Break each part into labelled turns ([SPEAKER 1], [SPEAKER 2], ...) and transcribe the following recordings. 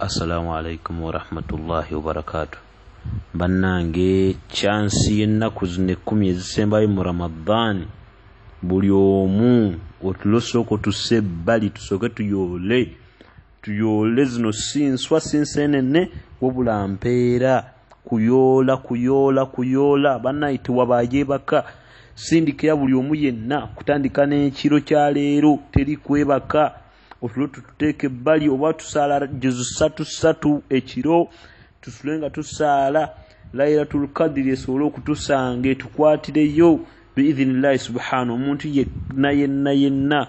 [SPEAKER 1] assalamu alaikum warahmatullahi wabarakatu bannange kyansi y'ennaku zino ekkumi ezisembayo mu ramadaani buli omu otulosooko tuse ebbali tusooke tuyoole tuyoole zino si nswa si nsenene wabula mpeera kuyoola kuyoola kuyoola bannaye tewabayo ebaka sindikira buli omu yenna kutandika n'ekiro kya leero teri kwebaka otulo tututeeka ebbali oba tusaala juzu satu satu ekiro tusule nga tusaala lairatul kadiri esobole okutusanga etukwatireyo biidhinillahi subhana omuntu yenna yenna yenna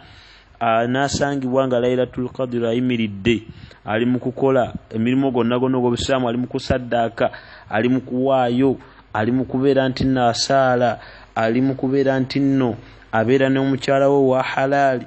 [SPEAKER 1] anasangibwa nga lairatul kadiri ayimiridde ali mu kukola emirimu gonna gonna ogwobusiraamu ali mu kusaddaaka ali mu kuwaayo ali mu kubeera nti nno asaala ali mu kubeera nti nno abeera n'omukyala we wa halaali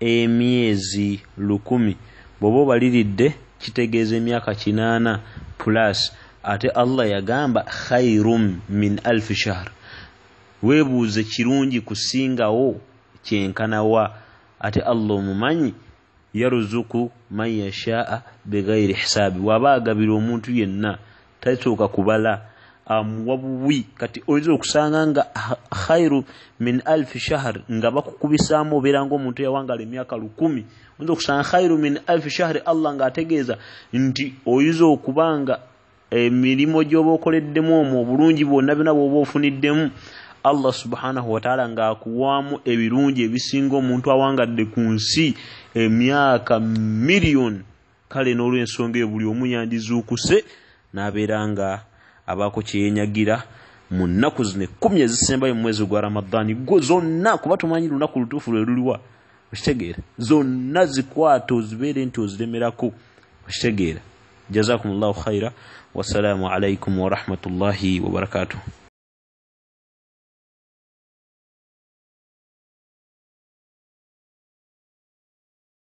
[SPEAKER 1] emyezi lukumi bwoba obaliridde kitegeeza emyaka kinaana plus ate allah yagamba khairum min alf shahr webuuze kirungi kusingawo kyenkanawa ate allah omumanyi yaruzuku man yashaa bighairi hisaabi waba agabira omuntu yenna takyuka kubala amuwa buwi kati oyinza okusanga nga khairu min alfi shahr nga bakukubisaamu obeera nga omuntu yawangala emyaka lukumi oyinza okusanga khairu min alfi shahri allah nga ategeeza nti oyinza okuba nga emirimu gyoba okoleddemu omwo obulungi bwonna byona bwoba ofuniddemu allah subhanahu wataala ngaakuwaamu ebirungi ebisinga omuntu awangadde ku nsi emyaka miriyoni kale n'olw'ensonga eyo buli omu yandizuukuse n'abeera nga abaako kye yenyagira mu nnaku zino ekkumi ezisembayo mu mwezi gwa ramadaani gwo zonna kuba tumanyi lunaku lutuufu lwe luliwa okitegeera zonna zikwata ozibeere nti oziremerako okitegeera jazakum llahu khaira wassalaamu alaikum warahmatullahi wabarakatuh